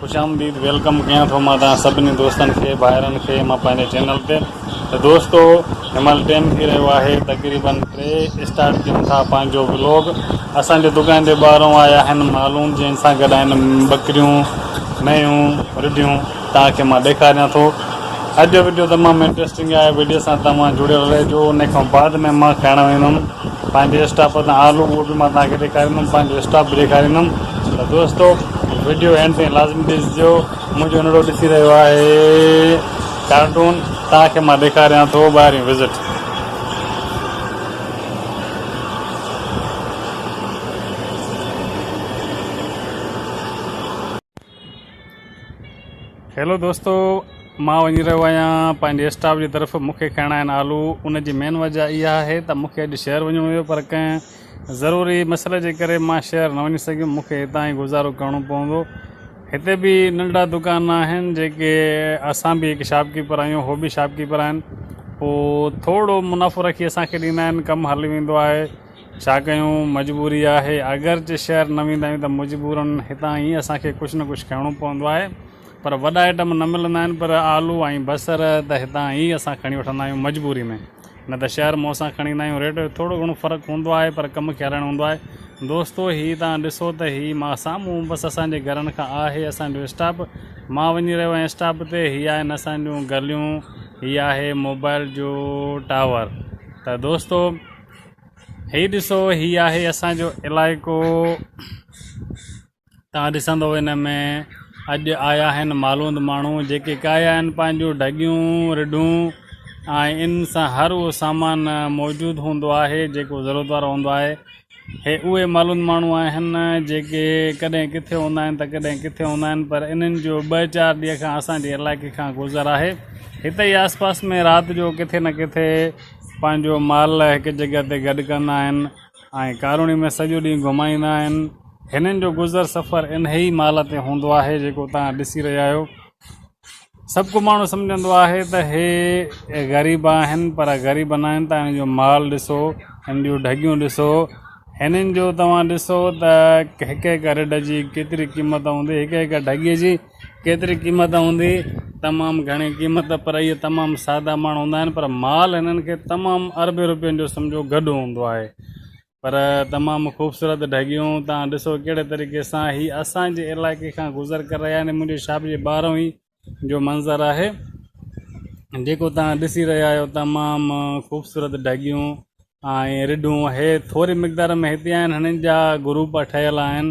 خوش آمديد ويلڪم ڪيان ٿو مان توهان سڀني دوستن کي ڀائرن کي مان پنهنجي چينل تي ته دوستو هنمهل ٽيم ٿي رهيو آهي تقريبا ٽي اسٽارٽ ڪيون ٿا پنهنجو ولوگ اسان جي دڪان تي ٻاهرون آيا آهن مالون جن سان گڏ آهن ٻڪريون مينهون رڍيون توهان کي مان ڏيکاريان ٿو اڄ جو وڊيو تمام انٽرسٽنگ آهي وڊيو سان توهان جڙيل رهجو ان کان بعد ۾ مان کائڻ ويندم پنهنجي اسٽاپ تان آلو اهو به مان توهان کي ڏيکاريندم پنهنجو اسٽاپ به ڏيکاريندم ته دوستو وڊيو اينڊ تائين لازمي ڏسجو منهنجو انڙو ڏسي رهيو آهي ڪارٽون توهان کي مان ڏيکاريان ٿو ٻاهرين وزٽ هيلو دوستو مان وڃي رهيو آهيان پنهنجي اسٽاف جي طرف مون کي کائڻا آهن آلو ان جي مين وجه اها آهي ته مون کي اڄ شهر وڃڻو هيو پر ڪنهن ضروري مسئلي جي ڪري مان شهر نه وڃي سگهيم مون کي هتان ئي گذارو ڪرڻو پوندو هتي به ننڍڙا دڪان آهن جيڪي اسان به هڪ شاپ ڪيپر آهيون هو به شاپ ڪيپر آهن پوء ٿورڙو منافعو رکي اسان کي ڏيندا آهن ڪم هلي ويندو آهي ڇا ڪيون مجبوري آهي اگرچه شهر نه ويندا آهيون ته مجبورن هتان ئي اسان کي ڪجهه نه ڪجهه کڻڻو پوندو آهي پر وڏا ائٽم نه ملندا آهن پر آلو ۽ بصر ته هتان ئي اسان کڻي وٺندا آهيون مجبوري ۾ نه ته شهر مون سان کڻي ايندا آهيون ريٽ جو ٿورو گهڻو فرق هوندو آهي پر ڪم کي هلائڻو هوندو آهي دوستو هي توهان ڏسو ته هي مان سامهون بس اسان جي گهرن کان آهي اسان جو اسٽاپ مان وڃي رهيو آهيان اسٽاپ تي هي آهن اسان جون گليون هي آهي موبائل جو ٽاور ته دوستو هي ڏسو هي آهي اسان جو علائقو تان ڏسندو ان ۾ اڄ آيا آهن معلوند ماڻهو جيڪي ڪاهي آهن پنهنجون ڍڳيون رڍون ۽ ان سان هر اهو سامان موجود هوندو آهي جيڪو ضرورت وارو هوندو آهي هي اهي معلوند ماڻهو آهن جيڪي ڪڏهن ڪٿي هوندا آهن ته ڪڏهن ڪٿي هوندا آهن پر انهن جو ٻه چار ڏينهن کان اسان جي علائقي کان گذر آهي هتي آس پاس ۾ رات جو ڪٿي نه ڪٿي پنهنجو مال هڪ جڳهه تي گڏ ڪندا آهن ۽ ڪاروني ۾ سڄو ڏينهن گهمائيندا آهن. هنن جو گذر سفر انهيء مال تي هوندو آهي جيڪو توهان ڏسي رهيا آهيو. سڀڪو ماڻهو سمجهندو آهي ته هي غريب آهن پر غريب ناهن ته هنن جو مال ڏسو، هنن جون ڍڳيون ڏسو، هنن جو توهان ڏسو ته هڪ هڪ رڍ جي ڪيتري قيمت هوندي، هڪ هڪ ڍڳي جي. ڪيتري قيمت هوندي؟ تمام گهڻي قيمت پر اهي تمام سادا ماڻهو هوندا آهن پر مال هنن کي تمام اربين روپين جو سمجهو گڏ هوندو آهي پر تمام خوبصورت ڍڳيون توهان ڏسو ڪهڙي طريقي سان هي اسان جي علائقي کان گذر ڪري رهيا آهن منهنجي شاپ جي ٻاهرون ئي جو منظر آهي جيڪو توهان ڏسي رهيا آهيو تمام خوبصورت ڍڳيون ۽ رڍون هي ٿوري مقدار ۾ هتي آهن هنن جا گروپ ٺهيل آهن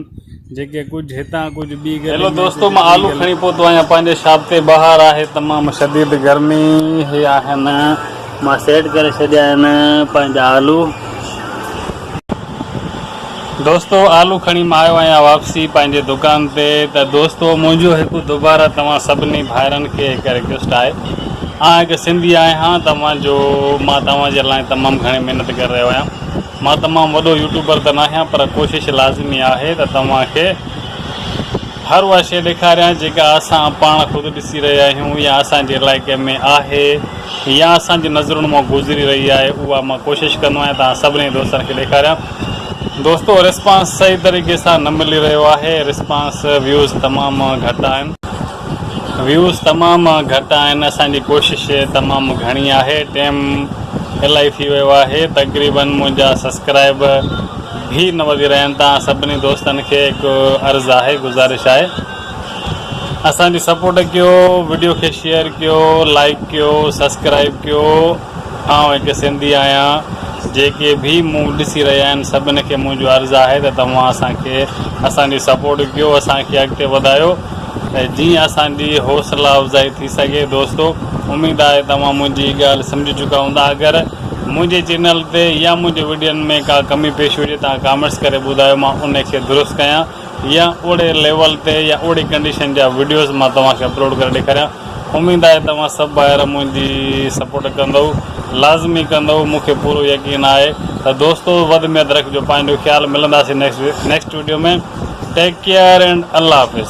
جيڪي ڪجهه هتان ڪجهه ٻي گلي ۾ هيلو دوستو مان آلو کڻي پهتو آهيان پنهنجي شاپ تي بهار آهي تمام شديد گرمي هي آهن مان سيٽ ڪري ڇڏيا آهن پنهنجا آلو. دوستو آلو کڻي مان آيو آهيان واپسي پنهنجي دڪان تي ته دوستو منهنجو هڪ دوباره توهان سڀني ڀائرن کي هڪ رڪويسٽ آهي آن هڪ سنڌي آهيان ته مان جو مان توهان جي لاء تمام گهڻي محنت ڪري رهيو آهيان مان تمام وڏو يوٽيوبر ته ناهيان پر ڪوشش لازمي آهي ته توهان کي هر اها شيء ڏيکاريان جيڪا اسان پاڻ خود ڏسي رهيا آهيون يا اسان جي علائقي ۾ آهي يا اسان جي نظرن مان گذري رهي آهي اها مان ڪوشش ڪندو آهيان توهان سڀني دوستن کي ڏيکاريان دوستو رسپانس صحيح طريقي سان نه ملي رهيو آهي رسپانس ويوز تمام گهٽ آهن ويوز تمام گهٽ آهن اسان جي ڪوشش تمام گهڻي آهي ٽيم الائي ٿي ويو آهي تقريبا منهنجا سبسڪرائب به نه وڌي رهيا آهن تان سڀني دوستن کي هڪ عرض آهي گذارش آهي اسان جي سپورٽ ڪيو وڊيو کي شيئر ڪيو لائڪ ڪيو سبسڪرائب ڪيو آئون هڪ سنڌي آهيان جيڪي به مون ڏسي رهيا آهن سڀن کي منهنجو عرض آهي ته توهان اسان کي اسان جي سپورٽ ڪيو اسان کي اڳتي وڌايو جيئن اسان جي حوصلا افزائي ٿي سگهي دوستو اميد آهي توهان منهنجي هي ڳالهه سمجهي چڪا هوندا اگر منهنجي چينل تي يا منهنجي وڊين ۾ ڪا ڪمي پيشي هجي توهان ڪامينٽس ڪري ٻڌايو مان ان کي درست ڪيان يا اوڙي ليول تي يا اوڙي ڪنڊيشن جا وڊيوز مان توهان کي اپلوڊ ڪري ڏيکاريان اميد آهي توهان سڀ ڀائر منهنجي سپورٽ ڪندؤ لازمي ڪندؤ مون کي پورو يقين آهي ته دوستو وڌ ۾ وڌ رکجو پنهنجو خيال ملنداسين next video ۾ take care and الله حافظ.